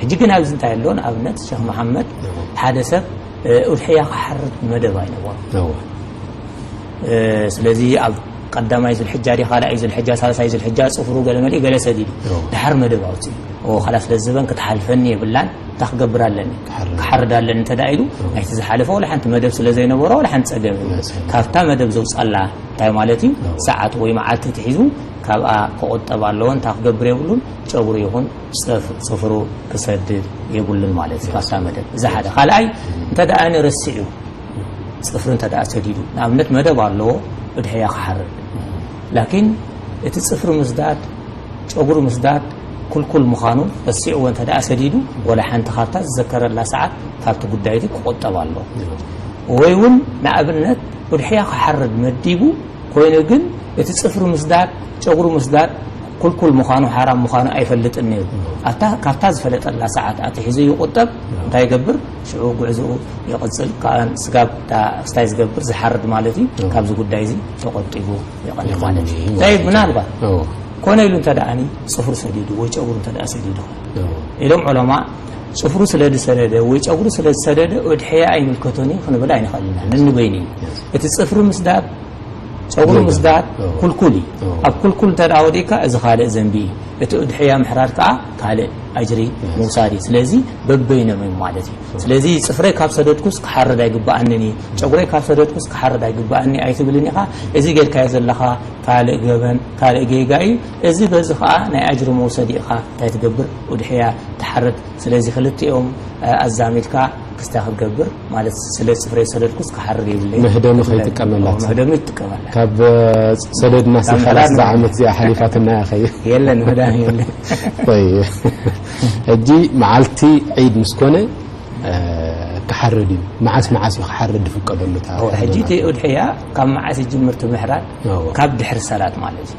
ሕጂ ግን ኣብዚ እንታይ ኣሎ ንኣብነት ሸኽ መሓመድ ሓደ ሰብ ኡድሕያ ክሓርድ መደብ ኣይነበሮ ስለዚ ኣብ ቀዳማይ ዝልሕጃ ዲ ካልኣይ ዝልሕጃ ሳልሳይ ዝልሕጃ ፅፍሩ ገለ መልኢ ገለ ሰዲዱ ድሓር መደብ ኣውፅኡ ወኻላ ስለ ዝበን ክትሓልፈኒ የብላን እታ ክገብር ኣለኒ ክሓርድ ኣለኒ እንተ ኢሉ ናይቲ ዝሓለፈ ወላ ሓንቲ መደብ ስለ ዘይነበሮ ወላ ሓንቲ ፀገም ካብታ መደብ ዘውፃላ እንታይ ማለት እዩ ሰዓት ወይ መዓልቲ ትሒዙ ካብኣ ክቑጠብ ኣለዎ እንታይ ክገብር የብሉን ጨጉሪ ይኹን ፅፍሩ ክሰድድ የብሉን ማለት እዩ ካብታ መደብ እዚ ሓደ ካልኣይ እንተ ደኣ ንርስዕዩ ፅፍሪ እንተ ደኣ ሰዲዱ ንኣብነት መደብ ኣለዎ ብድሕሪያ ክሓርድ ላኪን እቲ ፅፍሪ ምስዳድ ጨጉሪ ምስዳድ ኩልኩል ምዃኑ ረሲዕዎ እንተ ደኣ ሰዲዱ ወላ ሓንቲ ካብታ ዝዘከረላ ሰዓት ካብቲ ጉዳይ እቲ ክቆጠብ ኣለዎ ወይ እውን ንኣብነት ብድሕሪያ ክሓርድ መዲቡ ኮይኑ ግን እቲ ፅፍሪ ምስዳድ ጨጉሪ ምስዳድ ኩልኩል ምዃኑ ሓራም ምዃኑ ኣይፈልጥን ነይሩ። ኣታ ካብታ ዝፈለጠላ ሰዓት ኣትሒዙ ይቑጠብ፣ እንታይ ይገብር፣ ሽዑ ጉዕዞኡ ይቕጽል፣ ካን ስጋብ እታ ስታይ ዝገብር ዝሓርድ ማለት እዩ፣ ካብዚ ጉዳይ እዚ ተቖጢቡ ይቐኒ ማለት እዩ። ጠይብ ምናልባት ኮነ ኢሉ እንተ ደኣኒ ጽፍሩ ሰዲዱ ወይ ጨጉሩ እንተ ደኣ ሰዲዱ ኢሎም ዑለማ ጽፍሩ ስለ ዝሰደደ ወይ ጨጉሩ ስለ ዝሰደደ ኡድሕያ ኣይምልከቶን እዩ ክንብል ኣይንኽእልን ንንበይኑ እዩ እቲ ጽፍሪ ምስዳድ ጸጉሪ ምስዳድ ኩልኩል እዩ ኣብ ኩልኩል እንተ ወዲእካ እዚ ካልእ ዘንቢ እዩ እቲ እድሕያ ምሕራድ ከዓ ካልእ ኣጅሪ ምውሳድ እዩ ስለዚ በበይኖም እዮም ማለት እዩ ስለዚ ፅፍረይ ካብ ሰደድኩስ ክሓርድ ኣይግባኣንን እዩ ጨጉረይ ካብ ሰደድኩስ ክሓርድ ኣይግባኣኒ ኣይትብልን ኢኻ እዚ ጌርካዮ ዘለኻ ካልእ ገበን ካልእ ጌጋ እዩ እዚ በዚ ከዓ ናይ ኣጅሪ መውሰዲ ኢኻ እንታይ ትገብር ውድሕያ ትሓርድ ስለዚ ክልቲኦም ኣዛሚድካ ክስታ ክትገብር ማለት ስለ ጽፍረይ ሰደድኩስ ክሓርር የብለይን። መህደሚ ከይጥቀመላ ትብል። መህደሚ ይጥቀመላ። ካብ ሰደድ ናሲ ሓላስ ዝዓመት እዚኣ ሓሊፋትና እያ ከይ የለን መህዳሚ የለን። طيب ሕጂ መዓልቲ ዒድ ምስ ኮነ ክሓርድ እዩ። መዓስ መዓስ እዩ ክሓርድ ዝፍቀደሉ? እታ ሕጂ እቲ ኡድሕያ ካብ መዓስ ይጅምር እቲ ምሕራድ? ካብ ድሕሪ ሰላት ማለት እዩ።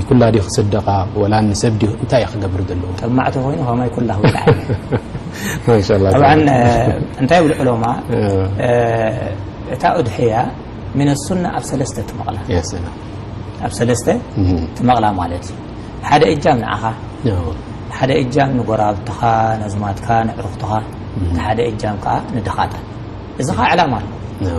ንኩላ ድዩ ክስደቃ ወላ ንሰብ ድዩ እንታይ እዩ ክገብር ዘለዎ። ጠማዕ ተኮይኑ ከማይ ኩላ ክውድዓኒ። ማሻላህ ጠብዓ እንታይ ይብሉ ዑለማ እታ ኡድሕያ ሚነ ሱና ኣብ ሰለስተ ትመቕላ ያ ሰላም ኣብ ሰለስተ ትመቕላ ማለት እዩ ሓደ እጃም ንዓኻ ሓደ እጃም ንጎራብትኻ ነዝማትካ ንዕሩኽትኻ እቲ ሓደ እጃም ከዓ ንድኻታት እዚ ኸኣ ዕላማ ኣሎ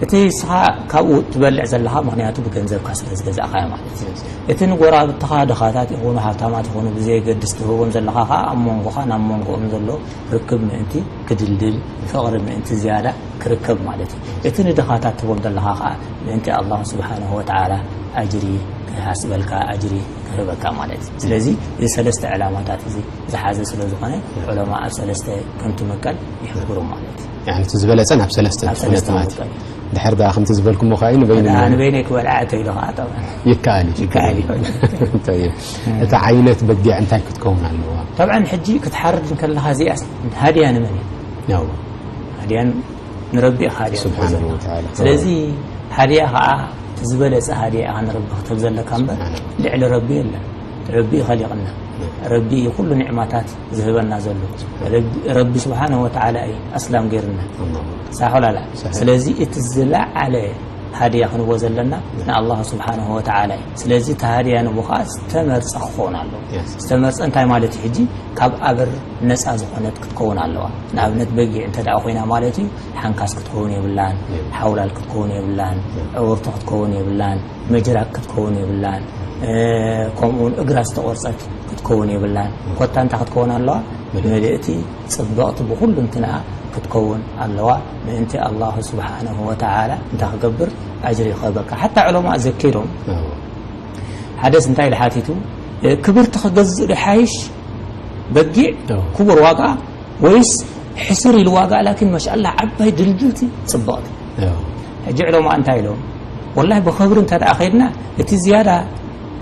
እቲ ንስኻ ካብኡ ትበልዕ ዘለኻ ምክንያቱ ብገንዘብካ ስለ ዝገዛእካዮ ማለት እዩ እቲ ንጎረባብትኻ ድኻታት ይኹኑ ሃብታማት ይኹኑ ብዘየገድስ ትህቦም ዘለኻ ከዓ ኣብ መንጎኻ ናብ መንጎኦም ዘሎ ርክብ ምእንቲ ክድልድል ፍቕሪ ምእንቲ ዝያዳ ክርከብ ማለት እዩ እቲ ንድኻታት ትህቦም ዘለኻ ከዓ ምእንቲ ኣላሁ ስብሓንሁ ወተዓላ ኣጅሪ ክሃስበልካ ኣጅሪ ክህበካ ማለት እዩ ስለዚ እዚ ሰለስተ ዕላማታት እዚ ዝሓዘ ስለ ዝኾነ ዑለማ ኣብ ሰለስተ ከምትምቀል ይሕብሩ ማለት እዩ። يعني እቲ ዝበለጸ ናብ ሰለስተ ናብ ክፍለ ሰለስተ ማለት ምቀል እዩ። ድሕር ደኣ ከምቲ ዝበልኩሞ ከኣ እዩ ንበይኑ ን- ንበይነይ ክበልዓ እተይሎ ከዓ ጠብዓ ይከኣል እዩ ይከኣል እዩ። طيب እታ ዓይነት በጊዕ እንታይ ክትከውን ኣለዋ? ጠብዓ ሕጂ ክትሓርድ እንከለኻ እዚኣ ሃድያ ንመን እዩ ያው ሃድያ ንረቢ ኢኻ ሃድያ ስብሓነሁ ትሕዘላ። ወተዓላ። ስለዚ ሃድያ ከዓ እቲ ዝበለጸ ሃድያ ኢኻ ንረቢ ክትህብ ዘለካ እምበር ስብሓነሁ። ልዕሊ ረቢ የለን ረቢ እዩ ኸሊቕና ረቢ እዩ ኩሉ ኒዕማታት ዝህበና ዘሎ ረቢ ስብሓን ወተዓላ እዩ ኣስላም ገይርና ሳሖላላ ስለዚ እቲ ዝለዓለ ሃድያ ክንቦ ዘለና ንኣላሁ ስብሓን ወተዓላ እዩ ስለዚ እቲ ሃድያ ንቦ ከዓ ዝተመርፀ ክኸውን ኣለዎ ዝተመርፀ እንታይ ማለት እዩ ሕጂ ካብ ኣበር ነፃ ዝኾነት ክትከውን ኣለዋ ንኣብነት በጊዕ እንተ ደኣ ኮይና ማለት እዩ ሓንካስ ክትከውን የብላን ሓውላል ክትከውን የብላን ዕውርቲ ክትከውን የብላን መጅራ ክትከውን የብላን ከምኡ ውን እግራ ዝተቆርጸት ክትከውን የብላን ኮታ እንታይ ክትከውን ኣለዋ ምልእቲ ጽብቕቲ ብኩሉ እንትንኣ ክትከውን ኣለዋ ምእንቲ ኣላሁ ስብሓነ ወተዓላ እንታይ ክገብር ኣጅሪ ይኸበካ ሓታ ዕለማእ ዘኪሮም ሓደስ እንታይ ኢሉ ሓቲቱ ክብርቲ ክገዝእ ዶ ሓይሽ በጊዕ ክቡር ዋጋ ወይስ ሕስር ኢሉ ዋጋ ላኪን ማሻላ ዓባይ ድልድልቲ ጽብቕቲ ሕጂ ዕለማ እንታይ ኢሎም ወላሂ ብኸብሪ እንተ ከድና እቲ ዝያዳ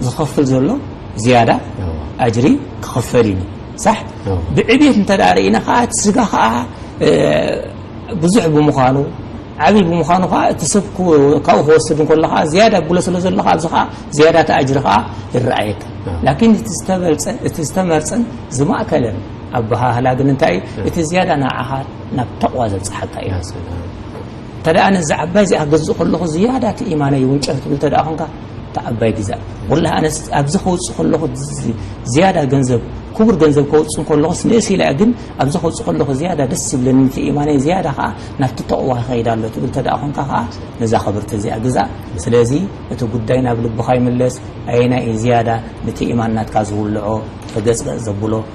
ዝኸፍል ዘሎ ዝያዳ ኣጅሪ ክኸፈል እዩ ሳሕ ብዕብት እንተ ርእና ከዓ እቲ ስጋ ከዓ ብዙሕ ብምዃኑ ዓብይ ብምዃኑ ከዓ እቲ ሰብ ካብኡ ክወስድ እንከሎ ከዓ ዝያዳ ብሎ ስለ ዘሎ ኣብዚ ከዓ ዝያዳ እቲ ኣጅሪ ከዓ ይረኣየካ ላኪን እቲ ዝተበልፀ እቲ ዝተመርፀን ዝማእከለን ኣበሃህላ ግን እንታይ እዩ እቲ ዝያዳ ንዓኻ ናብ ተቕዋ ዘብጽሓካ ኢማን ስለ ዝኾነ እንተ ደኣ ነዛ ዓባይ እዚኣ ክገዝእ ከለኹ ዝያዳ እቲ ኢማነይ ይውንጨፍ ትብል እንተ ደኣ ኾንካ እታ ዓባይ ግዛእ ወላሂ ኣነስ ኣብዚ ከውጽእ ከለኹ ዝያዳ ገንዘብ ክቡር ገንዘብ ከውጽእ ከለኹስ ንእስ ኢላ ግን ኣብዚ ከውጽእ ከለኹ ዝያዳ ደስ ይብለኒ እቲ ኢማነይ ዝያዳ ከዓ ናብቲ ተቕዋ ክኸይድ ኣሎ ትብል እንተ ደኣ ኾንካ ከዓ ነዛ ክብርቲ እዚኣ ግዛእ ስለዚ እቲ ጉዳይ ናብ ልብኻ ይምለስ ኣየናይ እዩ ዝያዳ ነቲ ኢማን ናትካ ዝውልዖ ተገጽገጽ ዘብሎ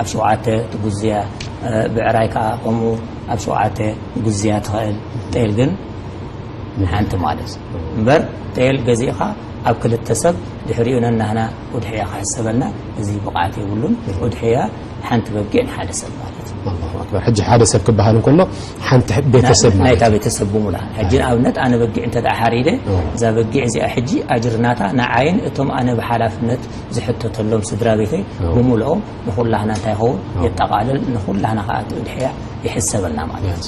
ኣብ ሸውዓተ ትጉዝያ ብዕራይ ከኣ ከምኡ ኣብ ሸውዓተ ጉዝያ ትኸእል ጤል ግን ንሓንቲ ማለት እምበር ጤል ገዚእኻ ኣብ ክልተ ሰብ ድሕሪኡ ነናህና ኡድሕያ ክሕሰበና እዚ ብቕዓት የብሉን ኡድሕያ ሓንቲ በጊዕ ንሓደ ሰብ ማለት ኣክበር ሕጂ ሓደ ሰብ ክበሃል እንከሎ ሓንቲ ቤተሰብ ናይታ ቤተሰብ ብሙላ ሕጂ ንኣብነት ኣነ በጊዕ እንተ ሓሪደ እዛ በጊዕ እዚኣ ሕጂ ኣጅርናታ ንዓይን እቶም ኣነ ብሓላፍነት ዝሕተተሎም ስድራ ቤተይ ብምልኦም ንኹላህና እንታይ ይኸውን የጠቓልል ንኹላህና ከዓ እቲ እድሕያ ይሕሰበና ማለት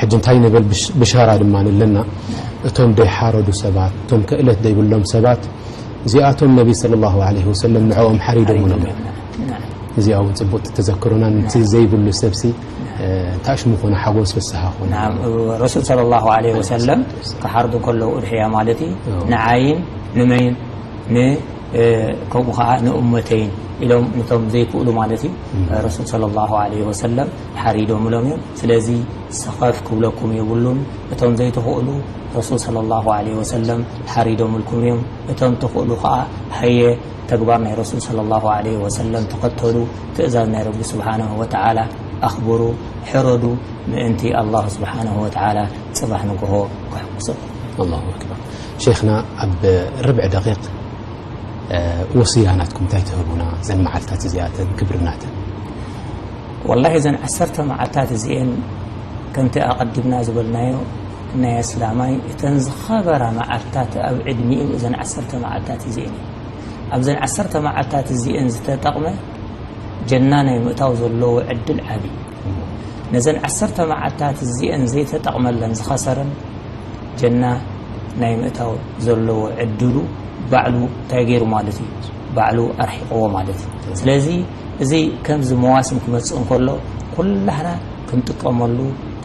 ሕጂ እንታይ ንብል ብሻራ ድማ ኣለና እቶም ደይሓረዱ ሰባት እቶም ክእለት ዘይብሎም ሰባት እዚኣቶም ነቢ ስለ ላሁ ለ ወሰለም ንዕኦም ሓሪዶምሎም እዮም እዚኣ እውን ፅቡቅ ተዘክሩና ንቲ ዘይብሉ ሰብሲ ታሽ ምኾነ ሓጎስ ፍስሃ ኮነ ረሱል ስለ ላሁ ለ ወሰለም ክሓርዱ ከለዉ እድሕያ ማለት እዩ ንዓይን ንመይን ን ከምኡ ከኣ ንእመተይን ኢሎም ንቶም ዘይክእሉ ማለት እዩ ረሱል ሰለላሁ ዓለይሂ ወሰለም ሓሪዶምሎም እዮም ስለዚ ሰኸፍ ክብለኩም የብሉን እቶም ዘይትኽእሉ ረሱል ሰለላሁ ዓለይሂ ወሰለም ሓሪዶምልኩም እዮም እቶም ትኽእሉ ከኣ ሃየ ተግባር ናይ ረሱል ሰለላሁ ዓለይሂ ወሰለም ተኸተሉ ትእዛዝ ናይ ረቢ ስብሓነሁ ወተዓላ ኣኽብሩ ሕረዱ ምእንቲ ኣላሁ ስብሓነሁ ወተዓላ ጽባሕ ንግሆ ከሕጉሰኩም ኣላሁ ኣክበር ሸይኽና ኣብ ርብዒ ደቂቅ ወስያ ናትኩም እንታይ ትህቡና እዘን መዓልታት እዚኣተን ክብሪ ናተን። ወላሂ እዘን ዓሰርተ መዓልታት እዚኤን ከምቲ ኣቀዲምና ዝበልናዮ ናይ ኣስላማይ እተን ዝኸበራ መዓልታት ኣብ ዕድሚኡ እዘን ዓሰርተ መዓልታት እዚኤን እየን። ኣብዘን ዓሰርተ መዓልታት እዚኤን ዝተጠቅመ ጀና ናይ ምእታው ዘለዎ ዕድል ዓብይ እዩ። ነዘን ዓሰርተ መዓልታት እዚኤን ዘይተጠቅመለን ዝኸሰረን ጀና ናይ ምእታው ዘለዎ ዕድሉ ባዕሉ እንታይ ገይሩ ማለት እዩ ባዕሉ ኣርሒቕዎ ማለት እዩ ስለዚ እዚ ከምዚ መዋስም ክመፅእ እንከሎ ኩላህና ክንጥቀመሉ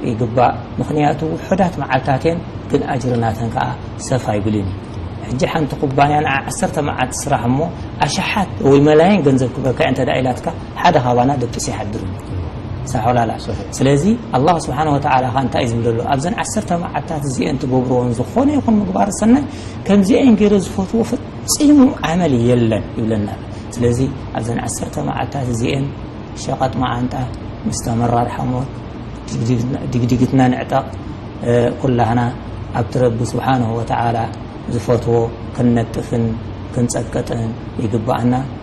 ይግባእ ምክንያቱ ውሑዳት መዓልታት እየን ግን ኣጅሪ ናተን ከዓ ሰፍ ኣይብልን እዩ ሕጂ ሓንቲ ኩባንያ ንዓ ዓሰርተ መዓልቲ ስራሕ እሞ ኣሽሓት ወይ መላይን ገንዘብ ክበካ እንተ ኢላትካ ሓደ ካባና ደቂሱ ይሓድር እዩ ሳሖላላሶሆ ስለዚ ኣላህ ስብሓን ወተዓላ ኸ እንታይ እዩ ዝብል ዘሎ ኣብዘን ዓሰርተ መዓልታት እዚኤን ትገብርዎን ዝኾነ ይኹን ምግባር ሰናይ ከምዚኤን ገይረ ዝፈትዎ ፈፂሙ ዓመል የለን ይብለና ስለዚ ኣብዘን ዓሰርተ መዓልታት እዚኤን ሸቐጥ መዓንጣ ምስ ተመራር ሓሞት ድግድግትና ንዕጠቕ ኩላህና ኣብቲ ረቢ ስብሓንሁ ወተዓላ ዝፈትዎ ክንነጥፍን ክንፀቅጥን ይግባኣና